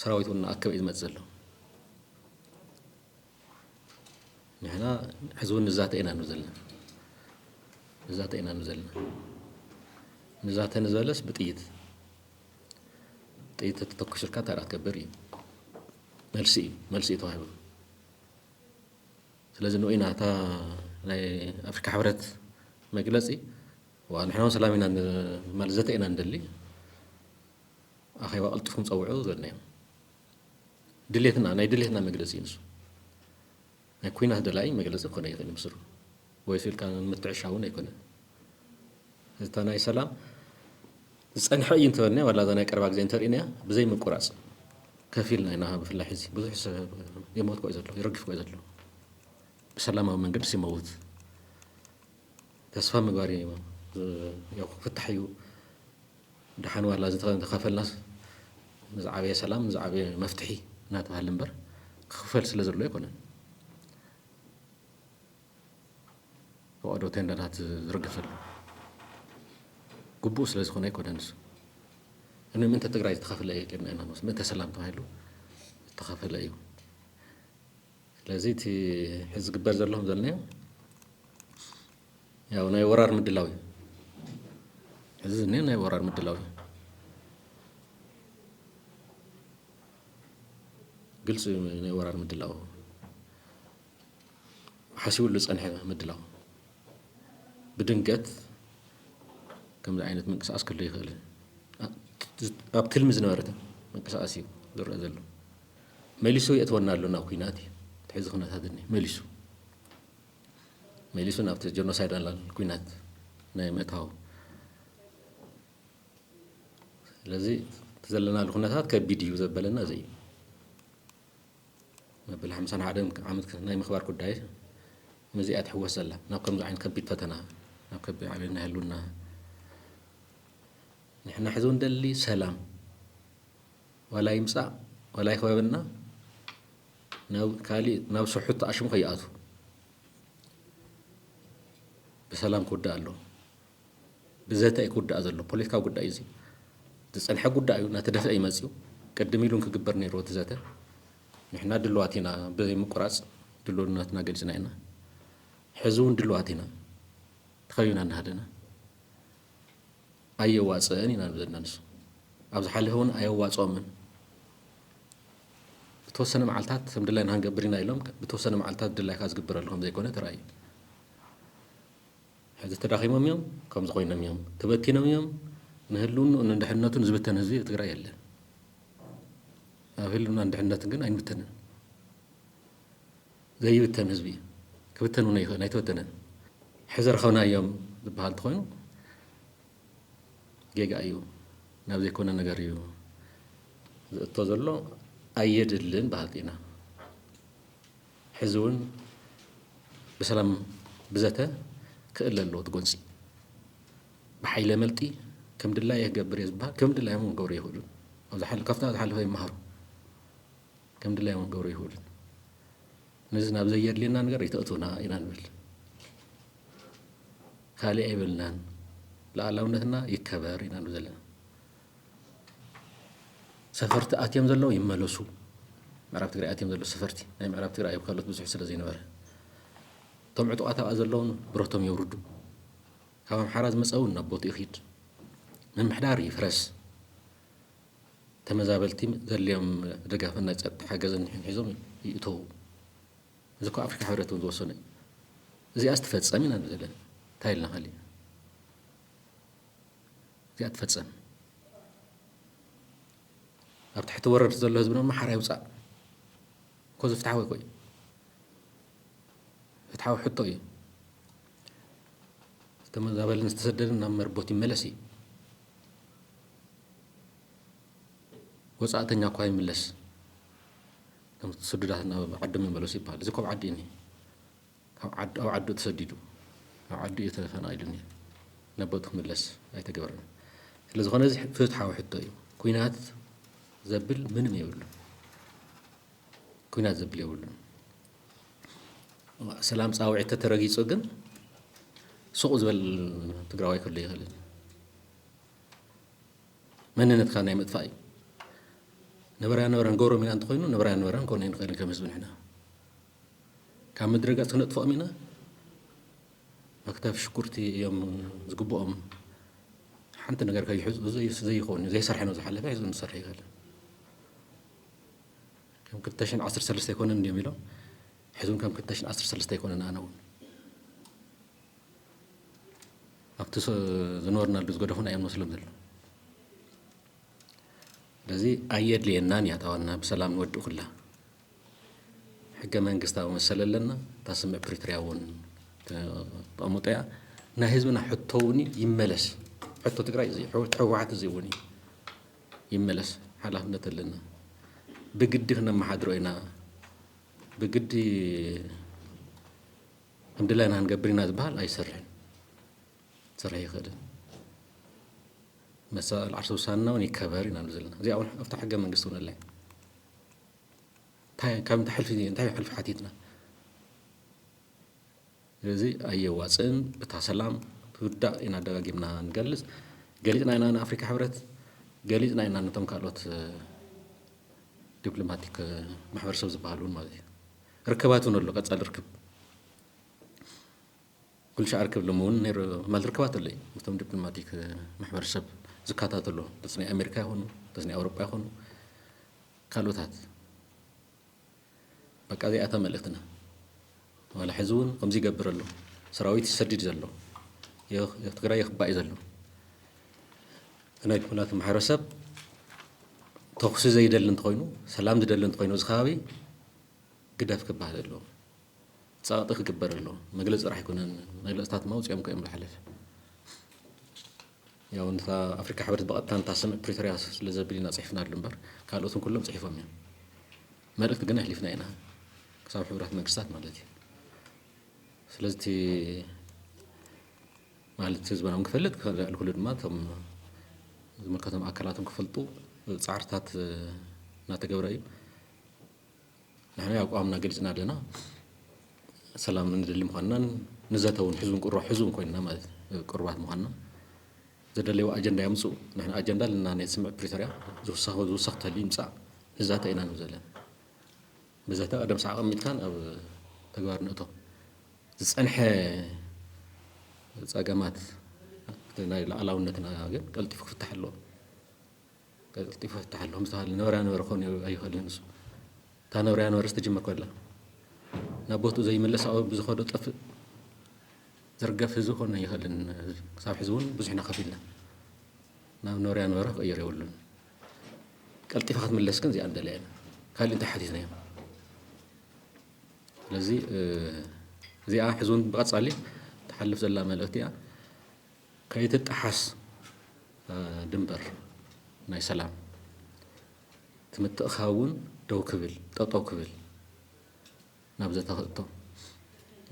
ሰራዊት እውን እናኣከበ እዩ ዝመፅእ ዘሎ። ንሕና ሕዚ እውን ንዛተ ኢና ን ዘለና ንዛተ ኢና ን ዘለና ንዛተ ንዘለስ ብጥይት ጥይት ተተኩስልካ እንታይ ደኣ ክትገብር እዩ መልሲ እዩ መልሲ እዩ ተዋሂቡ ስለዚ ንኡ ኢና እታ ናይ ኣፍሪካ ሕብረት መግለፂ ንሕና እውን ሰላም ኢና ማለት ዘተ ኢና ንደሊ ኣኼባ ቀልጢፉ ምጸውዑ ዘድነዮም ድሌትና ናይ ድሌትና መግለጺ እዩ ንሱ ናይ ኩናት ደላይ መግለጺ ክኾነ ይኽእል ምስሩ ወይሱ ኢልካ ምትዕሻ እውን ኣይኮነ እታ ናይ ሰላም ዝጸንሐ እዩ እንተበልና ዋላ እዛ ናይ ቀረባ ግዜ እንተርእናያ ብዘይ ምቁራጽ ከፊልና ኢና ብፍላይ ሕዚ ብዙሕ ሰብ የሞት ኮዩ ዘሎ ይረግፍ ኮዩ ዘሎ ብሰላማዊ መንገዲ ሲመውት ተስፋ ምግባር እዩ ክፍታሕ እዩ ደሓን ዋላ ዝተኸፈልናስ ንዝዓበየ ሰላም ንዝዓበየ መፍትሒ እናተባህለ እምበር ክኽፈል ስለ ዘሎ ኣይኮነን ፈቐዶ ቴንዳታት ዝርገፍ ዘሎ ግቡእ ስለ ዝኾነ ኣይኮነን ንሱ እነ ምእንተ ትግራይ ዝተኸፍለ እየ ጌርና ኢና ንወስድ ምእንተ ሰላም ተባሂሉ ዝተኸፈለ እዩ ስለዚ እቲ ሕዚ ዝግበር ዘሎ ከም ዘልናዮ ያው ናይ ወራር ምድላው እዩ እዚ ዝኒኦ ናይ ወራር ምድላው እዩ ግልፂ እዩ ናይ ወራር ምድላው ሓሲቡሉ ዝፀንሐ ምድላው ብድንገት ከምዚ ዓይነት ምንቅስቃስ ክህሉ ይኽእል እዩ። ኣብ ትልሚ ዝነበረ ምንቅስቃስ እዩ ዝረኣ ዘሎ። መሊሱ የእትወና ኣሎ ናብ ኩናት እዩ እቲ ሕዚ ኩነታት እኒ መሊሱ መሊሱ ናብቲ ጀኖሳይዳል ኩናት ናይ ምእታው ስለዚ እቲ ዘለናሉ ኩነታት ከቢድ እዩ ዘበለና እዚ እዩ። መበል ሓምሳን ሓደን ዓመት ናይ ምኽባር ጉዳይ ምስዚ እያ ትሕወስ ዘላ ናብ ከምዚ ዓይነት ከቢድ ፈተና ናብ ከቢድ ዓብዮት ናይ ህልውና ንሕና ሕዚ እውን ደሊ ሰላም ዋላ ይምፃእ ዋላ ይኽበበና ናብ ካሊእ ናብ ስሑት ኣሽሙ ከይኣቱ ብሰላም ክውዳእ ኣለዎ ብዘተ ኣይክውዳእ ዘሎ ፖለቲካዊ ጉዳይ እዩ እዚ ዝጸንሐ ጉዳይ እዩ እናተደፍአ እዩ መጺኡ ቅድም ኢሉን ክግበር ነይርዎ እቲ ዘተ ንሕና ድልዋት ኢና ብዘይምቁራጽ ድልውነትና ገሊጽና ኢና ሕዚ እውን ድልዋት ኢና ተኸቢና እናሃለና ኣየዋጽእን ኢና ዘለና ንሱ ኣብ ዝሓለፈ እውን ኣየዋጽኦምን ብተወሰነ መዓልታት ከም ድላይና ክንገብር ኢና ኢሎም ብተወሰነ መዓልታት ድላይካ ዝግበረሉ ከም ዘይኮነ ተራእዩ ሕዚ ተዳኺሞም እዮም ከምዚ ኮይኖም እዮም ተበቲኖም እዮም ንህልውንኡን ንድሕንነቱን ዝብተን ህዝቢ ኣብ ትግራይ የለን ኣብ ህልውናን ድሕንነትን ግን ኣይንብተንን ዘይብተን ህዝቢ እዩ ክብተን እውን ኣይኽእልን ኣይተበተነን ሕዚ ረኸብናዮም ዝበሃል እንተኾይኑ ጌጋ እዩ ናብ ዘይኮነ ነገር እዩ ዝእቶ ዘሎ ኣየድልን በሃልቲ ኢና ሕዚ እውን ብሰላም ብዘተ ክእለ ኣለዎ እቲ ጎንፂ ብሓይለ መልጢ ከም ድላየ ክገብር እየ ዝበሃል ከም ድላዮም እውን ክገብሩ ይኽእሉን ካብታ ዝሓለፈ ይመሃሩ ከም ድላዮም እውን ክገብሩ ይኽእሉን ነዚ ናብ ዘየድልየና ነገር ይተእቱና ኢና ንብል ካልእ ኣይበልናን ልኣላውነትና ይከበር ኢና ንብ ዘለና ሰፈርቲ ኣትዮም ዘለዉ ይመለሱ። ምዕራብ ትግራይ ኣትዮም ዘለዉ ሰፈርቲ ናይ ምዕራብ ትግራይ ኣብ ካልኦት ብዙሕ ስለ ዘይነበረ እቶም ዕጡቓት ኣብኣ ዘለዉን ብረቶም የውርዱ። ካብ ኣምሓራ ዝመፀ እውን ናብ ቦትኡ ይኺድ። ምምሕዳር ይፍረስ። ተመዛበልቲ ዘድልዮም ደጋፍን ናይ ፀጥታ ሓገዝን ንሕን ሒዞም ይእተዉ። እዚ እኮ ኣፍሪካ ሕብረት እውን ዝወሰነ እዩ። እዚኣስ ትፈፀም ኢና ንብል ዘለና እንታይ ኢልና ካሊእ እዚኣ ትፈፀም ኣብ ትሕቲ ወረርቲ ዘሎ ህዝቢ ድማ ሓራ ይውፃእ እኮ ዝፍትሓዊ እኮ እዩ ፍትሓዊ ሕቶ እዩ ዝተመዛበልን ዝተሰደድን ናብ መርቦት ይመለስ እዩ ወፃእተኛ እኳ ይምለስ ስዱዳት ናብ ዓዶም ይመለሱ ይበሃል እዚ ኮብ ዓዲ እኒ ኣብ ዓዱ ኣብ ዓዱ ተሰዲዱ ኣብ ዓዱ እዩ ተፈናቂሉ እኒሀ ነቦቱ ክምለስ ኣይተገበረን ስለዝኾነ እዚ ፍትሓዊ ሕቶ እዩ ኩናት ዘብል ምንም የብሉ ኩናት ዘብል የብሉን ሰላም ፃውዒት ተተረጊፁ ግን ሱቕ ዝበል ትግራዋይ ክህሉ ይኽእልን መንነትካ ናይ ምጥፋእ እዩ ነበራ ነበራ ንገብሮም ኢና እንተኮይኑ ነበራ ነበራ ንኮነ ንኽእል ከም ህዝቢ ንሕና ካብ ምድረ ገፅ ክነጥፍኦም ኢና መክተፊ ሽጉርቲ እዮም ዝግብኦም ሓንቲ ነገር ከይሕዝኡ ዘይኸውን ዘይሰርሐ ነው ዝሓለፈ ህዝቢ ምሰርሐ ይበል ከም ክልተ ሽሕን ዓሰርተ ሰለስተ ኣይኮነን እንዲዮም ኢሎም ሕዝም ከም ክልተ ሽሕን ዓሰርተ ሰለስተ ኣይኮነን ኣነ እውን ኣብቲ ዝነበርናሉ ዝገደፉና እዮም መስሎም ዘሎ ስለዚ ኣየድልየናን እያ ታዋና ብሰላም ንወድእ ኩላ ሕገ መንግስታዊ መሰል ኣለና እታ ስምዕ ፕሪቶርያ እውን ተቐምጦ እያ ናይ ህዝብና ሕቶ እውን ይመለስ ሕቶ ትግራይ እዚ ሕወሓት እዚ እውን እዩ ይመለስ ሓላፍነት ኣለና ብግዲ ክነመሓድሮ ኢና ብግዲ ከም ድላይና ክንገብር ኢና ዝበሃል ኣይሰርሕን ክሰርሕ ይኽእልን መሰል ዓርሰ ውሳንና እውን ይከበር ኢና ዘለና እዚኣ እውን ኣብታ ሕገ መንግስቲ እውን ኣላ ታይ ካብ እንታይ ሕልፊ እንታይ ሕልፊ ሓቲትና ስለዚ ኣየዋፅእን እታ ሰላም ክርዳእ ኢና ደጋጊምና ንገልፅ ገሊፅና ኢና ንኣፍሪካ ሕብረት ገሊፅና ኢና ነቶም ካልኦት ዲፕሎማቲክ ማሕበረሰብ ዝበሃሉ ማለት እዩ ርክባት እውን ኣሎ ቀፃሊ ርክብ ኩልሻኣር ክብ ልምውን ነይሩ ማል ርክባት ኣሎይ ምስቶም ዲፕሎማቲክ ማሕበረሰብ ዝካታተሉ ምስ ናይ ኣሜሪካ ይኹኑ ምስ ናይ ኣውሮጳ ይኹኑ ካልኦታት በቃ እዚኣታ መልእክትና ዋላ ሕዚ እውን ከምዚ ይገብር ኣሎ ሰራዊት ይሰድድ ዘሎ ትግራይ ይኽባእ እዩ ዘሎ ናይ ዲፕሎማት ማሕበረሰብ ተኹሲ ዘይደሊ እንተኮይኑ ሰላም ዝደሊ እንተኮይኑ እዚ ከባቢ ግደፍ ክበሃል ኣለዎ ጸቕጢ ክግበር ኣለዎ መግለጺ ጥራሕ ኣይኮነን መግለጽታት ድማ ኣውጺኦም እኮ እዮም ዝሓለፈ ያው እንታ ኣፍሪካ ሕብረት ብቐጥታ እንታ ስምዕ ፕሪቶሪያ ስለ ዘብል ኢና ጽሒፍናሉ እምበር ካልኦትን ኩሎም ጽሒፎም እዮም መልእክቲ ግን ኣሕሊፍና ኢና ክሳብ ሕብራት መንግስታት ማለት እዩ ስለዚ እቲ ማለት ህዝብና እውን ክፈልጥ ክልክሉ ድማ እቶም ዝምልከቶም ኣካላትን ክፈልጡ ፃዕርታት እናተገብረ እዩ ንሕና ኣቋምና ገሊጽና ኣለና ሰላም እንደሊ ምዃንናን ንዘተ እውን ሕዝብን ቁሩብ ሕዝብን ኮይንና ማለት ቅሩባት ምዃንና ዘደለይዎ ኣጀንዳ የምፅኡ ንሕና ኣጀንዳ ኣለና ናይ ስምዕ ፕሪቶርያ ዝውሰኸ ዝውሰኽ ተልዩ ይምፃእ ንዛተ ኢና ንብ ዘለና ብዘተ ቀደም ሰዓብ ኣሚትካን ኣብ ተግባር ንእቶ ዝፀንሐ ፀገማት ናይ ላዕላውነትና ግን ቀልጢፉ ክፍታሕ ኣለዎ ቀልጢፉ ፍታሓሎም ዝተባሃለ ነበረያ ነበረ ክኾን ኣይኽእልን ንሱ እታ ነበረያ ነበረ ዝተጀመር ኮላ ናብ ቦትኡ ዘይመለስ ኣብኡ ብዝኸዶ ጠፍእ ዝርገፍ ህዝቢ ክኾን ኣይኽእልን ክሳብ ሕዚ እውን ብዙሕ ኢና ከፊልና ናብ ነበረያ ነበረ ክቕየር የብሉን ቀልጢፋ ክትምለስ ግን እዚኣ ንደለያ ኢና ካልእ እንታይ ሓቲትና እዮም ስለዚ እዚኣ ሕዚ እውን ብቐፃሊ ትሓልፍ ዘላ መልእኽቲ እያ ከይትጠሓስ ድምበር ናይ ሰላም እቲ ምትእኽኻብ እውን ደው ክብል ጠጠው ክብል ናብ ዘተ ክእቶ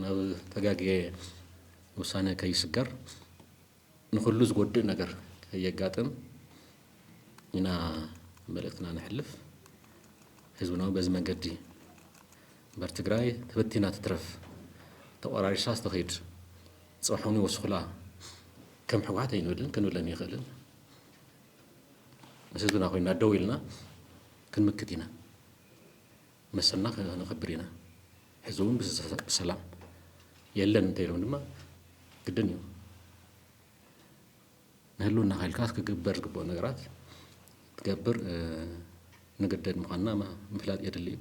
ናብ ተጋግየ ውሳነ ከይስገር ንኹሉ ዝጎድእ ነገር ከየጋጥም ኢና መልእክትና ነሕልፍ። ህዝብና እውን በዚ መንገዲ እምበር ትግራይ ተበቲና ትትረፍ ተቆራሪሳ ዝተኸይድ ጽሑኒ ወስኹላ ከም ሕውሓት ኣይንብልን ክንብልን ይኽእልን ምስ ህዝብና ኮይና ደው ኢልና ክንምክት ኢና መሰልና ከነኽብር ኢና ሕዚ እውን ብሰላም የለን እንተይሎም ድማ ግድን እዩ ንህልውና ኸልካ ክግበር ዝግብኦ ነገራት ትገብር ንግደድ ምዃንና ምፍላጥ የድሊ እዩ